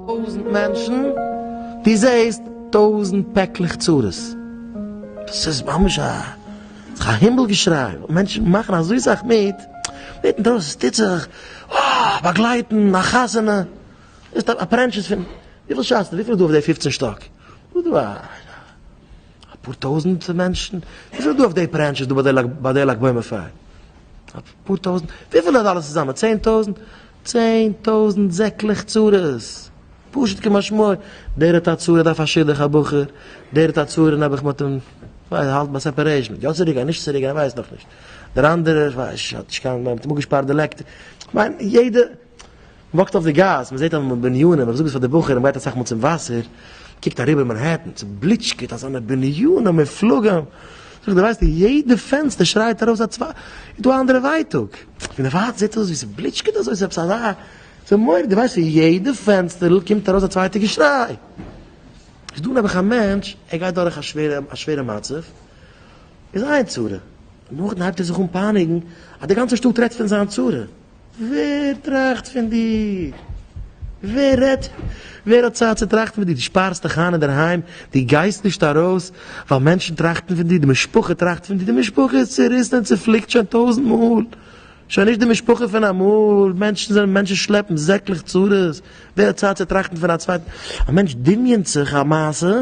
טויזנט מענטשן, דו זעסט טויזנט פעקלעך צרות, דאס איז ממש א הימל געשריי, מענטשן מאכן אזוי סאך מיט, מיטן טויט, עס טוט זיך, אה, באגלייטן א חתונה, וויפיל שעות איז דא אויף די פופצן שטאק, אפאר טויזענט מענטשן? וויפיל איז דא אויף די פרענטשעס דא ביי די לג בעומר פייער? אפאר טויזענט? וויפיל איז אלעס צוזאמען? צען טויזענט? צען טויזענט זעקלעך צרות! פשוט כמשמעו, דער האט א צרה דארף א שידוך א בחור, דער האט א צרה נעבעך מ'האט אים האלט ביי סעפערעישן, יא צוריק גיין נישט צוריק גיין ווייסט נאך נישט, דער אנדערער ווייסט נישט האט נישט קיין מ'האט אים אפגעשפארט די לעקטער, כ'מיין יעדע. מ'וואקט אויף די גאס, מ'זעט א בנינים, איך זאג עס פאר די בחורים, מ'גייט אסאך מאל צום וואסער, מ'קוקט אריבער מאנהעטן, ס'בליטשקעט אזאנע בנינים מופלגים, זאג איך דו ווייסט יעדע פענסטער שרייט ארויס א צוויי, איז דא אנדערע ווייטאג, פון די ווייט זעט אויס ווי ס'בליטשקעט אזוי, ס'איז עפעס אזא, ס'איז מורא'דיג, דו ווייסט פון יעדע פענסטערל קומט ארויס א צווייטע געשריי, איז דא נעבעך א מענטש, ער גייט דורך א שווערע, א שווערע מצב, איז איין צרה, נאכדעם הייבט ער זיך אן פייניגן אז די גאנצע שטאט רעדט פון זיין צרה. ווער טראכט פון דיר? ווער רעדט? ווער האט צייט צו טראכטן פון דיר? דו שפארסט דיך איין אינדערהיים, דו גייסט נישט ארויס, ווייל מענטשן טראכטן פון דיר, די משפחה טראכט פון דיר, די משפחה איז צעריסן און צעפליקט שוין טויזנט מאל, שוין נישט די משפחה פון אמאל, מענטשן זענען, מענטשן שלעפן זעקלעך צרות, ווער האט צייט צו טראכטן פון א צווייטן? א מענטש דמיונ'ט זיך א מעשה,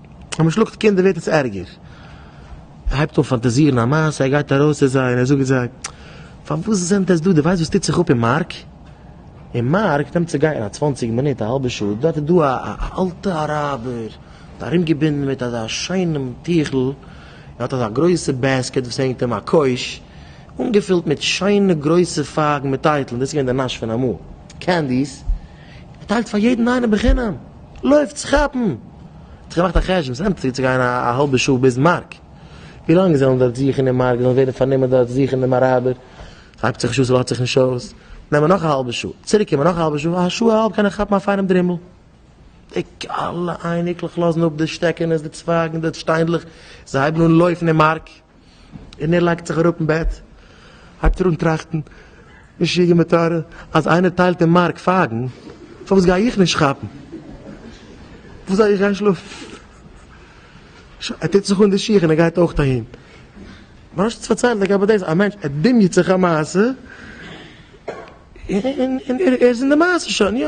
ווען מען שלאגט קינדער ווערט עס ערגער. ער הייבט אן פאנטאזירן א מעשה, ער גייט ארויס צו זיי און ער זאגט זיי, פארוואס זענט עטץ דא? דו ווייסט וואס טוט זיך אפ אין מארק? אין מארק נעמט צו גיין א צוואנציג מינוט א האלבע שעה, דארט איז דא א אלטע אראבער, ארומגעבינדן מיט אזא שיינעם טיכל, ער האט אזא גרויסע בעסקעט וואס הענגט אים א קויש, אנגעפילט מיט שיינע גרויסע פייגן מיט טייטלען, דאס איז געווען די נאש פון אמאל, קענדיס, ער טיילט פאר יעדן איינעם בחינם, לויפטס כאפן! האט זיך געמאכט א חשבון, ס'נעמט צו צו גיין א האלבע שעה ביזן מארק, ווילאנג זיי וועלן דארט זוכן אין מארק, זיי ווערן פארנומען דארט זוכן דעם אראבער, ס'הייבט זיך נישט אויס, ס'לאזט זיך נישט אויס, נעמען נאך א האלבע שעה, צוריק קומען נאך א האלבע שעה, א שעה א האלב קען ער כאפן א פיינעם דרימל. די אלע אייניקלעך לאזן אפ די שטעקענעס, די צווייגן, די שטיינדלעך, זיי הייבן אן לויפן אין מארק. און ער לייגט זיך אראפ אין בעט, הייבט ער אן טראכטן, משוגע מטורף, אז איינער טיילט אין מארק פייגן, פארוואס גיי איך נישט כאפן? פארוואס זאל איך גיין שלאפן? ער טוט זיך אן די שיך און ער גייט אויך אהין. מען האט שוין פארציילט לגבי דאס, א מענטש ער דמיונ'ט זיך א מעשה, און ער איז אין די מעשה שוין, יא.